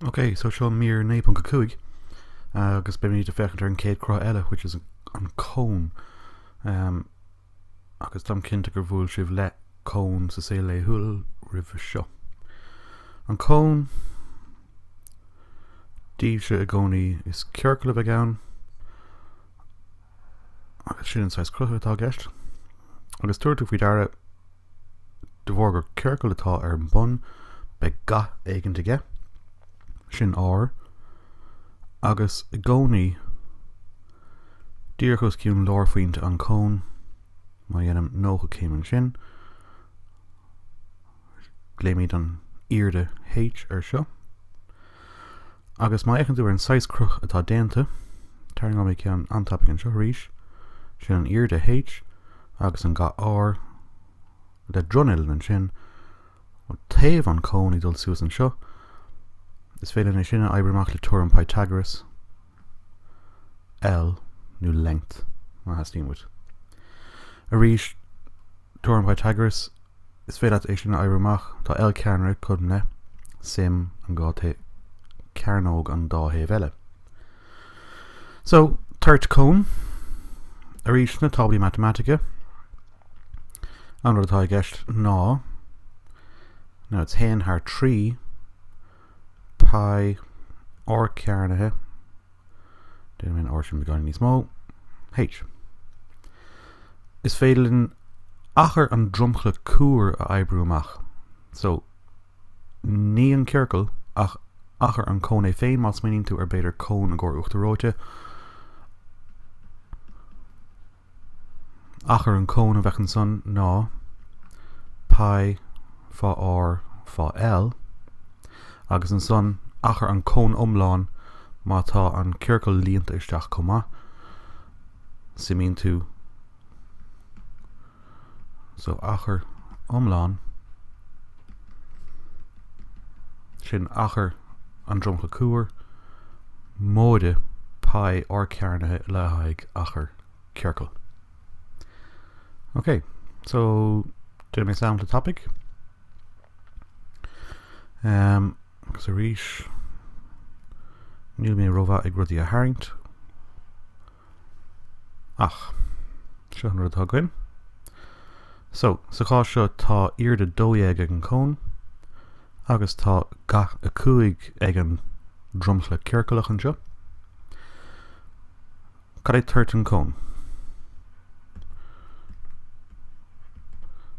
Ok so seo mír 9.5 agus beimíd ag féachaint ar an chéad cruth eile which is an cone. agus táim cinnte gur bhuail sibh le cón sa saol laethúil roimhe seo. An cón díobh seo i gcónaí is ciorcal a bheidh ann agus sin an saghas crutha atá i gceist. Agus tabharfaidh tú faoi deara. De bharr gur ciorcal atá ar an bun beidh ga éigint aige. Sin R. Agus i gcónaí díreach os cionn lárphointe an cón, má dhéanaim 90 céim ansin, glaoimid an airde H ar seo. Agus má fhéacann tú ar an saghas cruth atá déanta, tarraingeoidh mé ceann an-tapaidh anseo arís, sin an airde H agus an ga R le dronuillinn ansin ó thaobh an cón ag dul suas anseo, is féidir linn é sin a oibriú amach le teoirim Pythagoras. L, nó length, má theastaíonn uait. Arís, teoirim Pythagoras, is féidir leat é sin a oibriú amach, tá L cearnra cothrom le, suim, an dhá taobh, cearnóg an dá thaobh eile. So, toirt cón, arís, sna táblaí matamaitice, an rud atá i gceist ná, now it's haon thar trí, Pi R cearnaithe, déanaim an R sin beagáinín níos mó, H. Is féidir linn achar an dromchla cuar a oibriú amach. So, ní an ciorcal ach achar an cón é féin, má smaoiníonn tú ar b'fhéidir cón i gcomhair uachtar reoite, Achar an cón a bheadh ansan ná πi fá R fá L, agus ansan achar an cón iomlán má tá an ciorcal líonta isteach chomh maith. Suimíonn tú so achar iomlán. Sin achar an dromchla cuar, móide pi R cearnaithe le haghaidh achar ciorcal. Ok, so déanfaidh mé sampla tapaidh ehm agus arís níl mé ró-mhaith ag rudaí a tharraingt. Ach, seo an rud atá againn. So, sa chás seo tá airde 12 ag an cón agus tá ga 5 ag an dromchla ciorcalach anseo. Cad é toirt an chóin?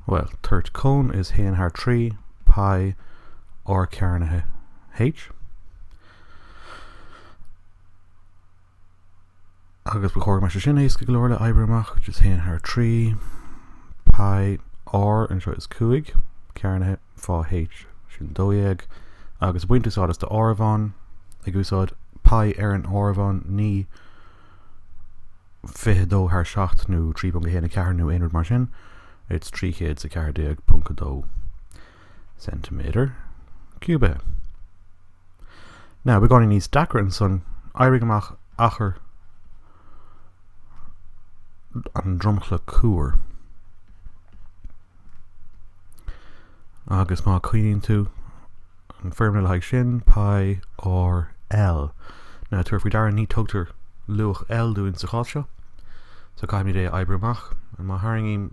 Well, toirt cón is 1 thar 3 pi r cearnaithe h. Agus ba chóir go mbeadh sé sin éasca go leor le hoibriú amach, which is 1 thar 3 pi r, anseo is 5 cearnaithe fá H, sin 12, agus ag baint úsáid as do áireamhán, ag úsáid pi ar an áireamhán, ní 22 thar 7 nó 3.14 nó aon rud mar sin, it's 314.2. ceintiméadar ciúbaithe. Now beagáinín níos deacra ansan, oibrigh amach achar an dromchla cuar. Agus má cuimhníonn tú an foirmle le haghaidh sin, pi r L. Now tabhair faoi deara ní tugtar luach L dúinn sa chás seo, so caithfimid é a oibriú amach. Má tharraingím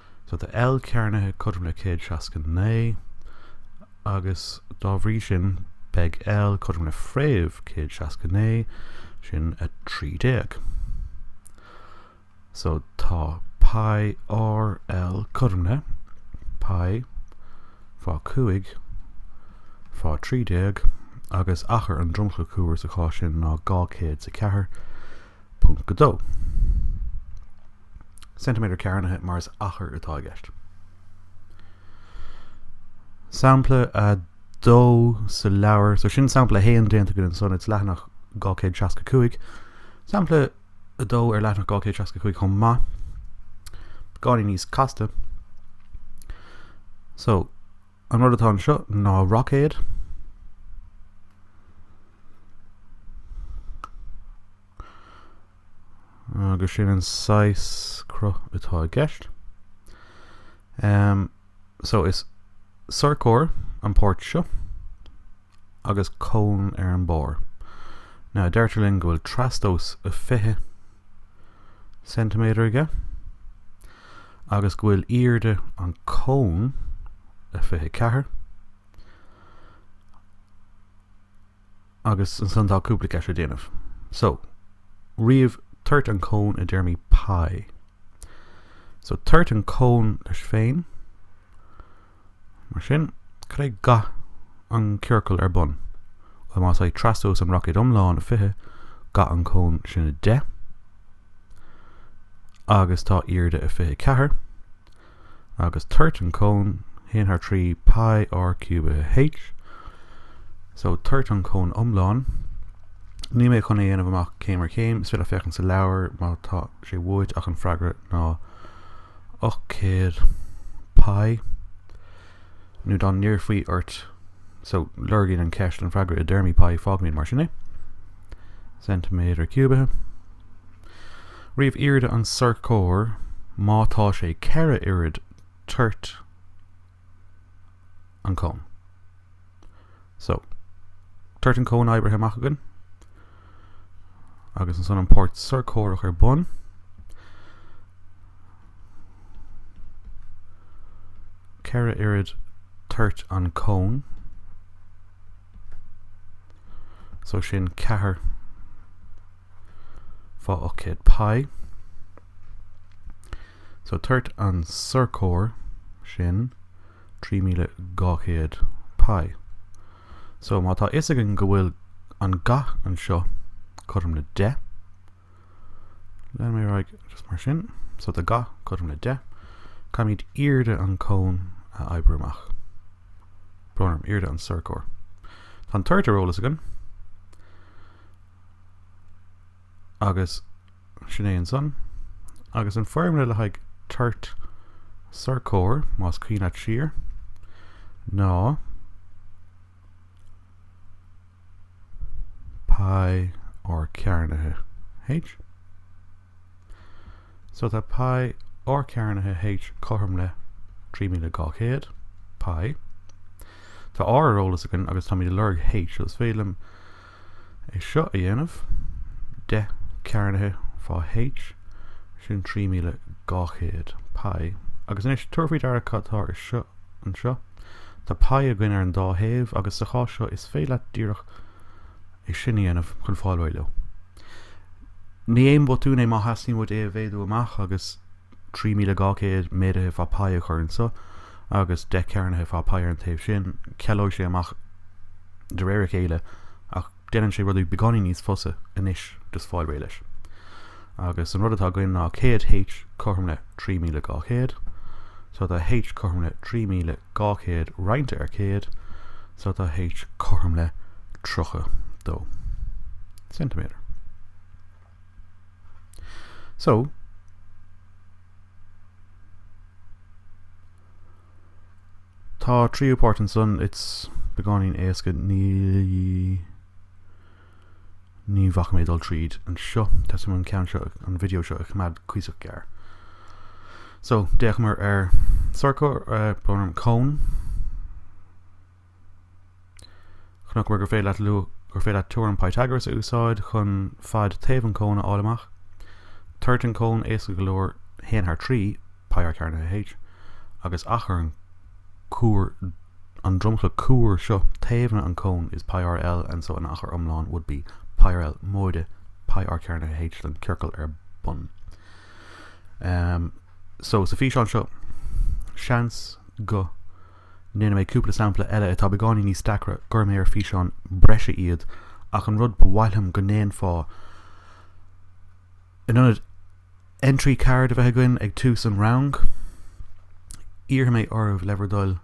So tá L cearnaithe cothrom le céad seasca naoi, agus dá bhrí sin beidh L cothrom le fréamh céad seasca naoi, sin a trí déag. So tá pi R L cothrom le pi fá cúig fá trí déag, agus achar an dromchla cuar sa chás sin ná dhá céad 's a ceathair ponc a dó. ceintiméadar cearnaithe mar is achar atá i gceist. Sampla 2 sa leabhar, so sin sampla 1 déanta againn anso it's leathanach 265. Sampla 2 ar leathanach 265 chomh maith. Beagáinín níos casta. So an rud atá anseo ná roicéad. Agus sin an saghas cruth atá i gceist. So is sorcóir an pháirt seo agus cón ar an barr. Now deirtear linn go bhfuil trastomhas 20 ceintiméadar aige agus go bhfuil airde an cón a 24. agus ansan tá cúpla ceist le déanamh. So, ríomh toirt an cón i dtéarmaí pie. So, toirt an cón leis féin. Mar sin, cad é ga an ciorcal ar bun? Bhuel, más é trastomhas an roicéid iomlán a 20, ga an cón sin a 10, agus tá airde a 24. agus toirt an cón haon thar trí Pi R ciúbaithe H, so toirt an cón iomlán. Níl mé chun é a dhéanamh amach céim ar chéim, is féidir leat féachaint sa leabhar má tá sé uait ach an freagra ná 800 Pi nó dá n-iarrfaí ort so lorgaíonn an ceist an freagra i dtéarmaí Pi, fágfaimid mar sin é. ceintiméadar ciúbaithe. Ríomh airde an tsorcóir má tá sé ceithre oiread toirt an cón. So, toirt an cón oibrithe amach againn. Agus ansan an pháirt sorcórach ar bun. Ceithre oiread toirt an cón. So sin ceathair fá 800 pi. So toirt an sorcóir sin 3200 pi. So má tá fhios againn go bhfuil an ga anseo cothrom le 10. Leanfaidh mé ar aghaidh just mar sin. So tá ga cothrom le 10. Caithfimid airde an cón a oibriú amach. Brón orm, airde an sorcóir. Tá an toirt ar eolas againn. Agus sin é ansan. Agus an foirmle le haghaidh toirt sorcóir, más cuimhin leat siar, ná pi r cearnaithe h. So tá pi r cearnaithe h cothrom le 3200 pi. Tá r ar eolas againn agus táimid ag lorg h, so is féidir liom é seo a dhéanamh, 10 cearnaithe fá H, sin 3200 pi, agus anois tabhair faoi deara cad tá ar siúl anseo, tá pi againn ar an dá thaobh agus sa chás seo is féidir leat díreach é sin a dhéanamh chun fáil réidh leo. Ní haon bhotún é má theastaíonn uait é a mhéadú amach agus. 3200 méadaithe fá pi a chur anso agus 10 cearnaithe fá pi ar an taobh sin, cealóidh sé amach de réir a chéile ach déanann sé rudaí beagáinín níos fusa anois just fáil réidh leis. Agus an rud atá againn ná 100 H cothrom le 3200 so tá H cothrom le 3200 roinnte ar 100 so tá H cothrom le 32 ceintiméadar. So, tá tríú páirt anso and it's beagáinín éasca ní bhacfaidh mé dul tríd anseo. Teastaíonn uaim an ceann seo an video seo a choimeád cuíosach gearr. So, d'fhéachamar ar sorcóir, eh, priosma, cón. Chonaiceamar gur féidir leat teoirim Pythagoras a úsáid chun fad taobh an cón a fháil amach. Toirt an cón éasca go leor haon thar trí, π r cearnaithe H, agus achar an cuar an dromchla cuar seo taobhanna an cón is π r L ansan achar iomlán would be π r L móide π r cearnaithe H don ciorcal ar bun. Em, so sa físeán seo, seans go. ndéanfaidh mé cúpla sampla eile atá beagáinín níos deacra glaofaidh mé físeán breise iad ach an rud ba mhaith liom go ndéanfá in ionad entry card a bheith againn ag tús an rang iarrfaidh mé oraibh le bhur dtoil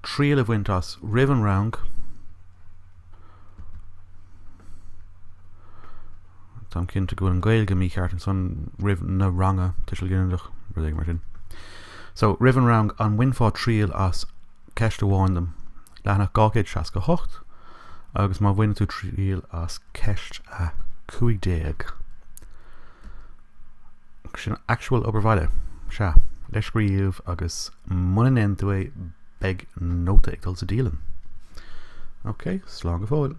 triail a bhaint as roimh an rang Táim cinnte go bhfuil an Ghaeilge mícheart ansan roimh na ranga, tuiseal ginideach, rud éigin mar sin. So, roimh an rang, an mbainfeá triail as ceist amháin dom, leathanach 268, agus má bhaineann tú triail as ceist 15. Sin actual obair bhaile. Sea, le scríobh agus muna ndéanann tú é, beidh nóta ag dul sa dialann. OK, slán go fóill.